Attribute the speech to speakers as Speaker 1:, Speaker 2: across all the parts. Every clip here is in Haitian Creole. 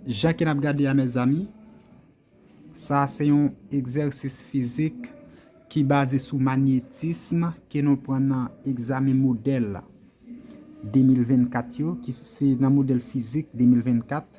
Speaker 1: Jan ke nap gade a mezanmi, sa se yon egzèsis fizik ki baze sou magnetism ke nou pran nan egzamen modèl 2024 yo, ki se nan modèl fizik 2024.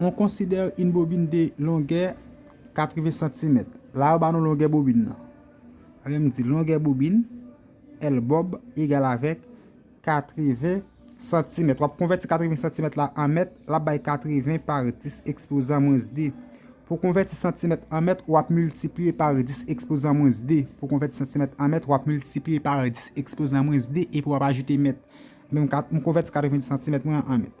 Speaker 1: On konsidere yn bobin de longè 80 santimèt. La yo ba nou longè bobin nan. Sa vle di longè bobin L bob egal avèk 80 santimèt. Wap konvèti 80 santimèt la an mèt, l ap bay 80 par 10 ekspozan mwens 2. Pou konvèti santimèt an mèt, wap miltipliye par 10 ekspozan mwens 2. Pou konvèti santimèt an mèt, wap miltipliye par 10 ekspozan mwens 2 epi wap ajoute mèt. Mwen konvèti 90 santimèt mwen an mèt.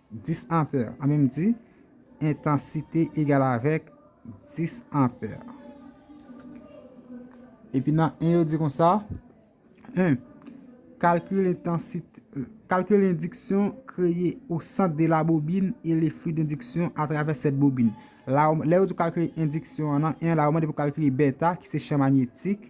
Speaker 1: 10 anpè. An men m di, entansite egal avèk 10 anpè. Epi nan 1 yo di kon sa, 1. Kalkil entansite, kalkil endiksyon kreye o sant de la bobin e le fli dendiksyon a travè sèt bobin. La, lè yo di w kalkile endiksyon an nan 1 la, yo mande pou w kalkile bèta ki se chan manyetik.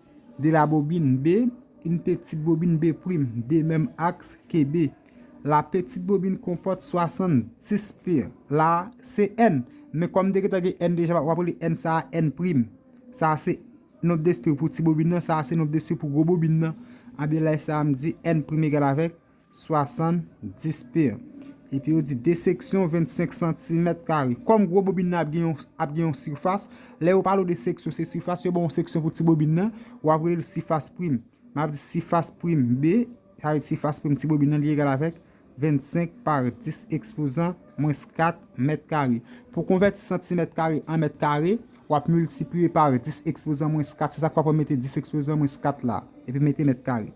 Speaker 1: De la bobine B, une petite bobine B', de menm aks ke B. La petite bobine konpòt 70 p. La a se n, men kòm te gentan gen n deja w ap rele n sa a n'. Sa a se nonb despi pou ti bobine nan, sa a se nonb despi pou gwo bobine nan. Anben lè sa a m di n' egal avèk. 70 pieds. Epi yo di 2 seksyon 25 santimèt kare. Kòm gwo bobin nan ap gen yon ap gen yon sifas, lè yo pale w de seksyon se sifas, yo ba w yon seksyon pou ti bobin nan, w ap rele l sifas prim. M ap di sifas prim B, sa vle di sifas prim ti bobin nan li egal avèk 25 pa 10 ekspozan mwens 4 mèt kare. Pou w konvèti santimèt kare an mèt kare, w ap miltipliye pa 10 ekspozan mwens 4, se sa k fè w ap mete 10 ekspozan mwens 4 la, epi mete mèt kare.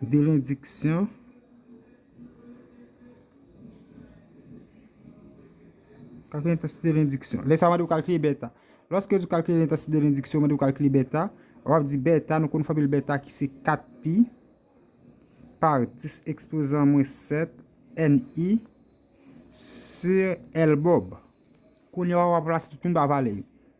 Speaker 1: Delendiksyon Kalkile entansite delendiksyon Lè sa mande ou kalkile beta Lòske di kalkile entansite delendiksyon mande ou kalkile beta Wap di beta nou konn fòmil beta ki se 4 pi Par 10 ekspozan mwen 7 NI Sur L bob Kounye wap ranplase tout moun pa valè yo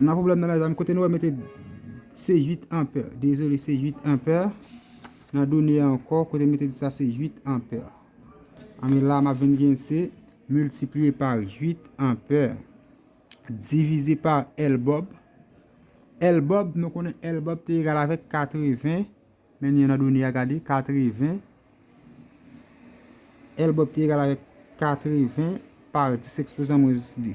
Speaker 1: Nan problem nan mezanmi kote nou wè mete se 8 anpè dezole se 8 anpè nan done an ankò kote mete di sa se 8 anpè anben la ma vin gen se miltipliye pa 8 anpè divize pa L bob L bob nou konnen L bob te egal avèk 80 men ni an nan done a gade 80 L bob te egal avèk 80 pa 10 ekspozan mwens 2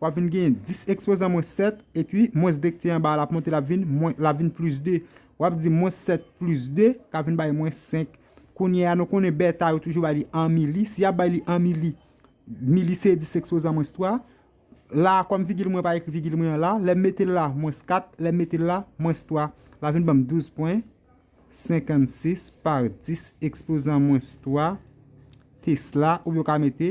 Speaker 1: W ap vin genyen 10 ekspozan mwens 7, epi mwens 2 k te anba a l ap monte l ap vin mwen l ap vin plis 2. W ap di mwens 7 plis 2 ka vin bay mwens 5. Kounye a, nou konnen bèta yo toujou bay li an mili. Si y ap bay li an mili, mili se 10 ekspozan mwens 3. La a, kòm vigil mwen pa ekri vigil mwen an la, lè m mete l la, mwens 4, lè m mete l la, mwens 3. L ap vin ban m 12 pwen. 56 pa 10 ekspozan mwens 3 tesla, oubyen w ka mete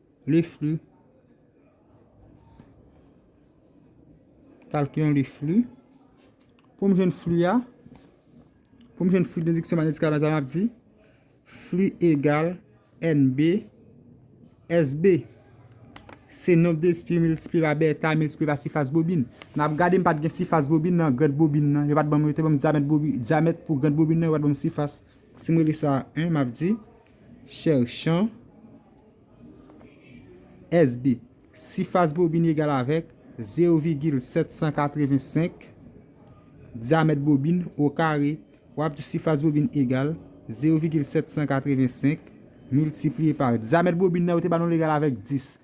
Speaker 1: Le flux. Kalkilons le flux. Pou m jwenn flux a, pou m jwenn flux nan diksyon manyetik la, sa m ap di, flux egal NB, SB. Se nonb de espri miltipliye pa beta miltipliye pa sifas bobin. N ap gade m pa t gen sifas bobin nan grèd bobin nan. Yo pa t ban m, yo te ban m dyamèt bobin, dyamèt pou grèd bobin nan, yo pa t ban m sifas. Si m rele sa 1, m ap di. Chèchan SB. Sifas bobin egal avèk, zero vigil 785, dyamèt bobin, okare, w ap di sifas bobin egal, zero vigil 785, miltipliye pa dyamèt bobin nan yo te ba nou l egal avèk 10.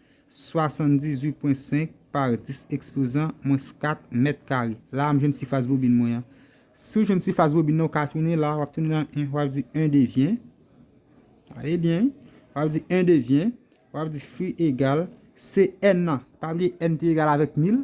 Speaker 1: 78 pwen 5 par 10 ekspozan mwens 4 mèt kare. La a m jwenn sifas bobin mwen an. Si w jwenn sifas bobin nan, w ka tounen la a, w ap tounen nan 1, w ap di 1 devyen, gade byen wi, w ap di 1 devyen, w ap di fi egal, se n nan, pa bliye n te egal avèk 1000,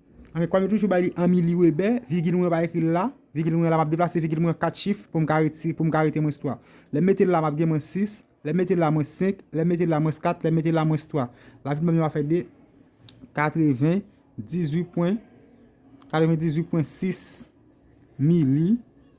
Speaker 1: Anmweyy kòm yo toujou bay li an miliwebè, vigil mwen pa ekri l la, vigil mwen la m ap deplase vigil mwen an 4 chif pou m ka retire pou m ka rete mwens 3. Lè m mete l la m ap gen mwens 6, lè m mete l la mwens 5, lè m mete l la mwens 4, lè m mete l la mwens 3. La vin ban m yon afè de 98 pwen 98 pwen 6 mili.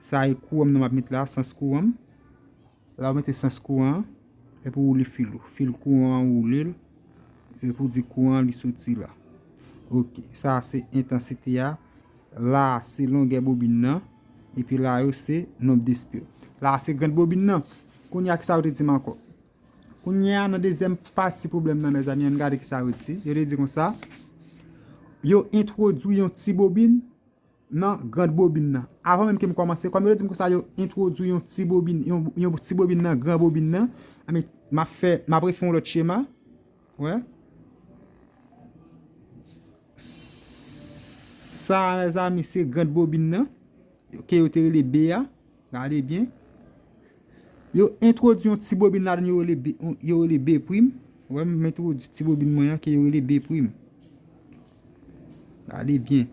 Speaker 1: Sa e kouranm nan map met la sans kouranm la ou mete sans kouran epi ou woule fil ou fil kouran ou woule l epi ou di kouran li soti la ok sa a se entansite a la a se longè bobin nan epi la yo se nomb de spil la a se grand bobin nan kounye a kisa yo te di m ankò kounye a nan dezyèm pati pwoblèm nan mezanmi ann gade kisa yo di yo te di konsa yo entwodwi yon ti bobin nan grand bobin nan avan menm kem kòmanse kòm yo dim konsa yo entwodwi yon ti bobin yon ti bobin nan gran bobin nan anben map fè map refè yon lòt chema wè sa a mezanmi se grand bobin nan ke yo te rele be a gade byen yo entwodwi yon ti bobin ladan yo rele be yo rele be prim wè m entwodwi ti bobin mwen an ke yo rele be prim Gade byen.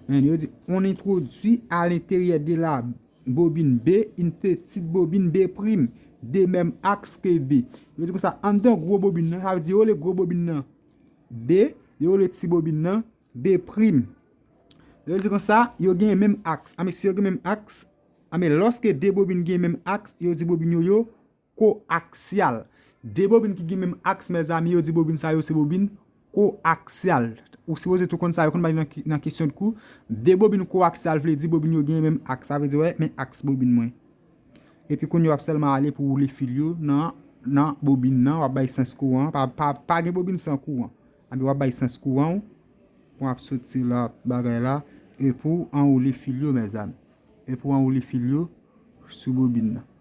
Speaker 1: An yo di, on entwodui a lenteryè de la bobin B in petit bobin B prim de menm aks ke B. Yo di konsa, anndan gwo bobin nan, sa vle di yo rele gwo bobin nan B, yo rele ti bobin nan B prim. Yo di konsa, yo gen menm aks. Anben, si yo gen menm aks, anben lòske 2 bobin gen menm aks, yo di bobin yo yo. Ko-aksyal, De bobin ki gen menm aks mezanmi yo di bobin sa yo se bobin ko-aksyal. Ou sipoze tou konn sa yo konn bay nan kesyon dkou. De bobin ko-aksyal vle di bobin yo gen menm aks. Sa vle di wè men aks bobin mwen. Epi kounye wap sèlman ale pou woule fil yo nan nan bobin nan wap bay sans kouran an. Pa gen bobin san kouran. Anpi wap bay sans kouran ou pou ap soti la bagay la epou anwoule fil yo mezanmi. Epou anwoule fil yo sou bobin nan.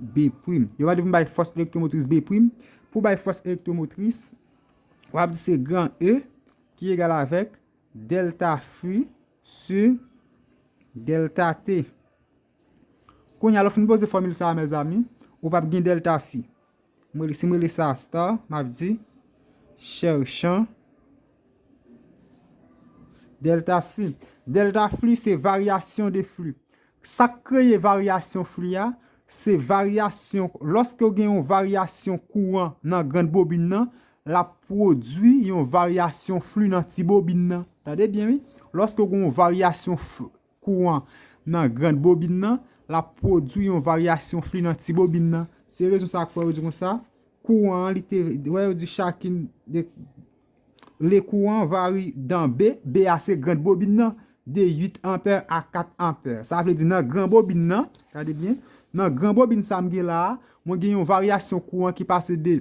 Speaker 1: B' prim. Yo va di pou m bay fòs elektwomotris B' prim. Pou w bay fòs elektwomotris, w ap di se gran E ki egal avèk dèlta Fi si dèlta T. Kounye a lè w fin poze fòmil sa a mezanmi, ou p ap gen dèlta Fi. Si m rele sa star, m ap di chèrchan dèlta fli. Dèlta fli se varyasyon de fli. Sa k kreye varyasyon fli a, se varyasyon, lòske ou gen yon varyasyon kouran nan grann bobin nan, l ap pwodui yon varyasyon fli nan ti bobin nan. Tande byen wi, lòske ou gen yon varyasyon kouran nan grand bobin nan, l ap pwodui yon varyasyon fli nan ti bobin nan. Se rezon sa k fè yo di kon sa, kouran an li te, wè yo di chakin de, le kouran vari dan B, B a se grand bobin nan, de 8 ampè a 4 ampè. Sa vle di nan gran bobin nan, gade byen, nan gran bobin sa m gen la a, mwen gen yon varyasyon kouran ki pase de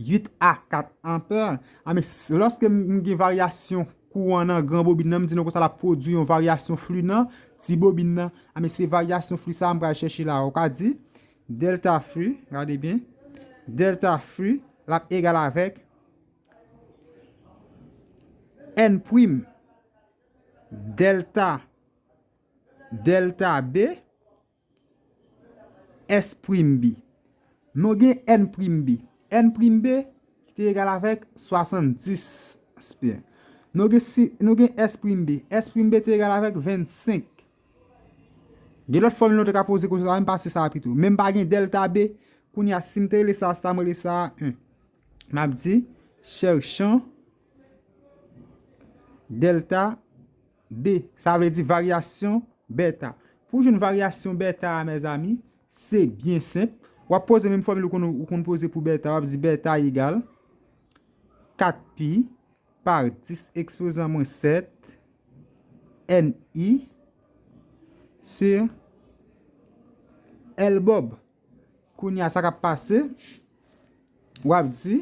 Speaker 1: 8 a 4 anpè a men lòske m gen varyasyon kouran nan gran bobin nan m di nou konsa l ap pwodui yon varyasyon fli nan ti bobin nan a men se varyasyon fli sa a m pral chèche la a ou ka di dèlta fli gade byen dèlta fli l ap egal avèk èn prim dèlta dèlta b S prim bi. Nou gen N prim bi. N prim B ki egal avèk 70. Nou gen S prim B. S prim B te egal avèk 25. Gen lòt fòmil nou te ka poze konsèp la men m pase sa a pito. Men m pa gen dèlta B, kounye a si m te rele sa a, se ta m rele sa a 1. M ap di, chèchan dèlta. B, Sa vle di varyasyon bèta. Pou w jwenn varyasyon bèta a mezanmi, se byen senp. W ap poze menm fòmil ou konn poze pou bèta, w ap di bèta egal 4 pi pa 10 ekspozan mwen 7 NI si L bòb. Kounye a sa k ap pase, w ap di.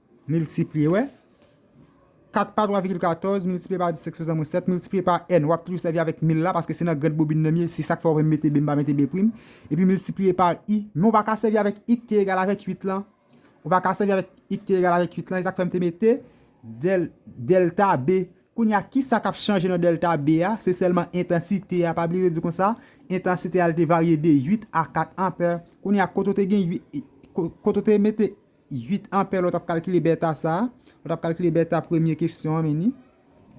Speaker 1: Miltipliye, wè. 4 pa 3 vigil 14, miltipliye pa 10 eksponan mwens 7, miltipliye pa N, w ap toujou sèvi avèk mil la, paske se nan grande bobine nan m ye, se sa k fè w wè m mete bmba mete bprim, epi miltipliye pa I, men w pa ka sèvi avèk I k te egal avèk 8 lan, w pa ka sèvi avèk I k te egal avèk 8 lan, e sa k fè m te mete dèl, dèlta B. Kounye a, ki sa k ap chanje nan dèlta B a? Se sèlman entansite a, pa bliye yo di kon sa, entansite a l te varye de 8 a 4 anpè. Kounye a, kote w te gen 8, kote w te mete 8 anpè lè w t ap kalkile bèta sa a. Lè w t ap kalkile bèta premye kesyon an meni.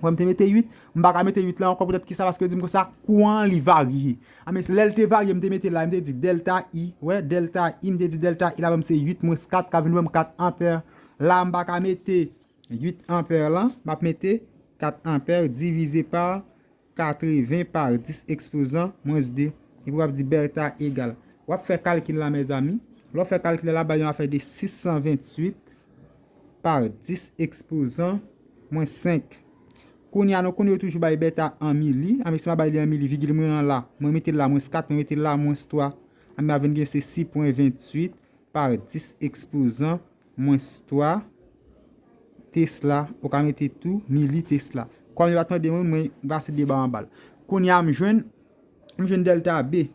Speaker 1: Wè m te mete 8. M pa ka mete 8 la ankò poutèt ki sa paske yo di m konsa kouran an li varye. Anben lè l te varye m te mete la m te di dèlta I. Wè dèlta I m te di dèlta I la ban m se 8 mwens 4 k ap vin ban m 4 anpè. La m pa ka mete 8 anpè lan. M ap mete 4 anpè divize pa. 80 par 10 ekspozan mwens 2 epi wap di Bertha egal. Wap fè kalkil la mezanmi. Lè w fè kalkil la, l ap bay yon afè de 628 par 10 ekspozan mwens 5. Kounye a, nou konnen yo toujou bay Bertha an mili. Anben, si m ap bay li an mili, vigil mwen an la, mwen mete l la mwens 4, mwen mete l la mwens 3. Anben, m ap vin gen se 6.28 par 10 ekspozan mwens 3 tesla ou ka mete tou mili tesla kòm yo pat mande mwen mwen pase 2 ba anbal kounya m jwenn m jwenn delta B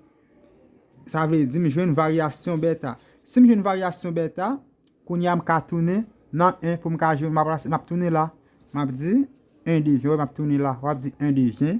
Speaker 1: sa vle di m jwenn varyasyon beta si m jwenn varyasyon beta kounya m ka tounen nan 1 pou m ka jwenn m ap tounen la m ap di 1 dejen wè m ap tounen la w ap di 1 dejen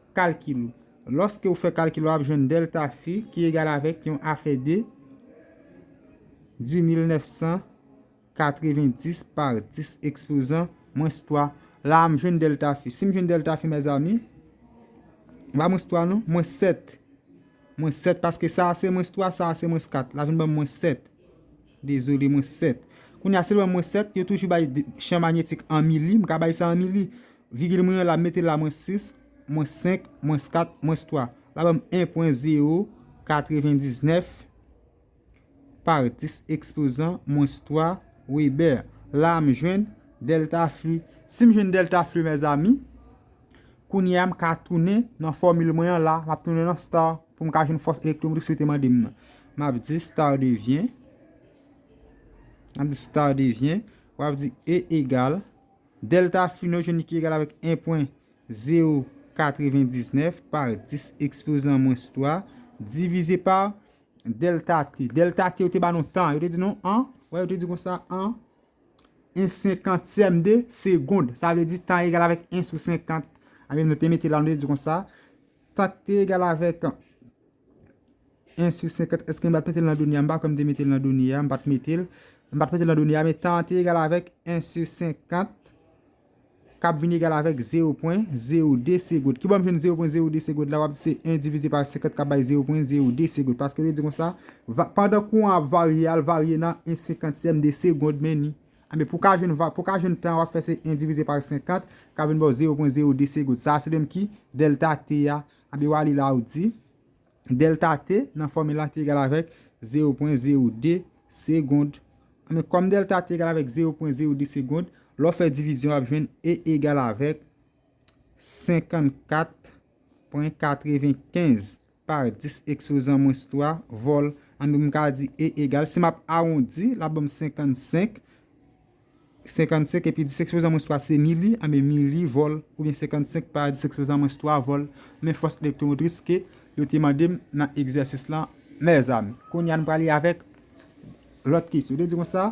Speaker 1: Kalkil ou. Lòske ou fè kalkil ou ap jwenn dèlta fi ki egal avèk yon afè de di mil nèf san katreven dis pa dis ekspozan mwens twa. La a m jwenn dèlta fi. Si m jwenn dèlta fi mèzami, m pa mwens twa non, mwens sèt. Mwens sèt paske sa a se mwens twa, sa a se mwens kat. La vin ban m mwens sèt. Dezole mwen 7. Kounye a selman mwen 7, yo toujou bay chan manyetik an mili, m ka bay sa an mili. Vigil mwen an la, m mete l la mwens 6, mwens 5, mwens 4, mwens 3. La ban m 1.099 par 10 ekspozan mwens 3 Webè. La a m jwenn dèlta fli. Si m jwenn dèlta fli mèzami, kounye a m ka tounen nan fòmil mwen an la, m ap tounen nan star. pou m ka jwenn fòs elektwomotif sa ou te mande m nan. M ap di star devyen, m ap di star devyen, w ap di E egal, delta phi nou jwenn li ki egal avèk 1 pwen 0 99 par 10 ekspozan mwens 3 divize pa delta t. Delta t yo te ba nou tan, yo te di nou an, wè yo te di konsa an, 1 senkantyèm de segond. Sa vle di tan egal avèk 1 sou 50. Anben nou te mete la nou te di konsa, Tat te egal avèk 1 sou 50. Èske m pa t mete l nan done a? M pa kwè m te mete l nan done a. M pa t mete l. M pa t mete l nan done a, men tan an te egal avèk 1 sou 50, k ap vin egal avèk 0 pwen 02 segond. Ki bò m jwenn 0 pwen 02 segond la? W ap di se 1 divize pa 50 k ap bay 0 pwen 02 segond. Paske yo di kon sa, pandan kouran an ap varye, a l varye nan 1 senkantyèm de segond, men ni Anben pou ka jwenn va pou ka jwenn tan wap fè se 1 divize par 50 kap vin baw 0.02 segond sa se menm ki dèlta t a anben wa li la ou di dèlta t nan fòmil la ki egal avèk 0.02 segond anben kòm dèlta t egal avèk 0.02 segond lè w fè divizyon wap jwenn e egal avèk 54.95. Par 10 ekspozan mwens 3 vòl anben m ka di E egal, si m ap awondi, l ap ban m 55, 55 epi 10 ekspozan mwens 3 se mili, anben mili vòl oubyen 55 pa 10 ekspozan mwens 3 vòl men fòs elektwomotris ke yo te mande m nan egzèsis lan mèzami. Kounye a nou prale avèk lòt kesyon. Yo te di konsa.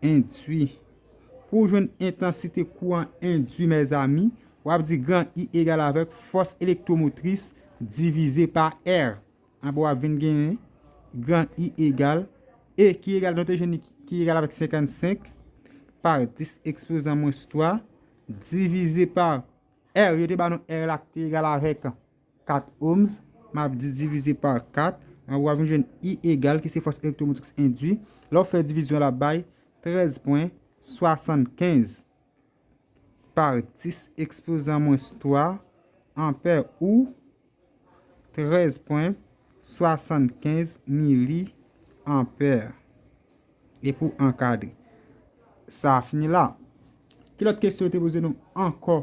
Speaker 1: Endwi. Pou w jwenn entansite kouran endwi mezanmi, w ap di gran I egal avèk fòs elektwomotris divize pa R. Anba w ap vin genyen gran I egal E ki egal nou te jwenn li ki egal avèk 55 pa 10 ekspozan mwens 3 divize pa R. Yo te ba nou R la ki te egal avèk. 4 ohms, m ap di divize pa 4, anba w ap vin jwenn I egal ki se fòs elektwomotriks endwi, lè w fè divizyon l ap bay 13 pwen 75 par 10 ekspozan mwens 3 anpè ou 13 pwen 75 mili anpè. E pou ankadre. Sa fini la. Ki lòt kesyon yo te poze nou ankò?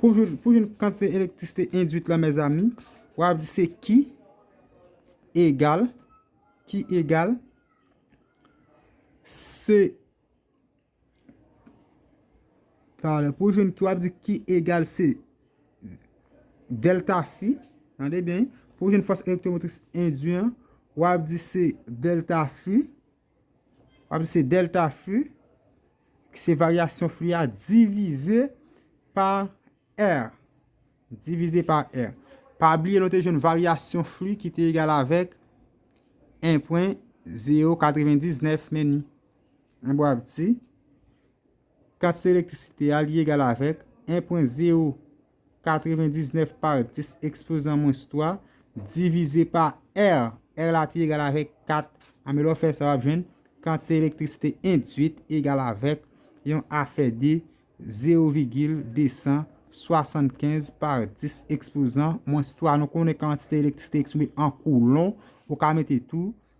Speaker 1: Pou jwenn kantite elektrisite endwit la mezanmi, wa di se Q egal, Q egal, se, tale, pou jwenn Q wa di Q egal se delta fi, tande byen, pou jwenn fòs elektwomotris endwi an, wa di se delta fi, Ap se delta flu ki se varyasyon flu a divize pa R. Divize pa R. Pa bliye nou te jwenn varyasyon flu ki te egal avèk 1.099 meni. An bo ap di kantite elektrisite a li egal avèk 1.099. 99 par 10 ekspozan mwens 3 divize pa R. R la te egal avèk 4. Anben lè w fè sa w ap jwenn kantite elektrisite endwit egal avèk yon afè de 0,275 par 10 ekspozan mwens 3. Nou konnen kantite elektrisite eksprime an koulon. Ou ka mete tou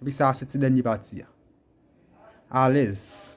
Speaker 1: Epi sa a se ti dènye pati a. Alèz.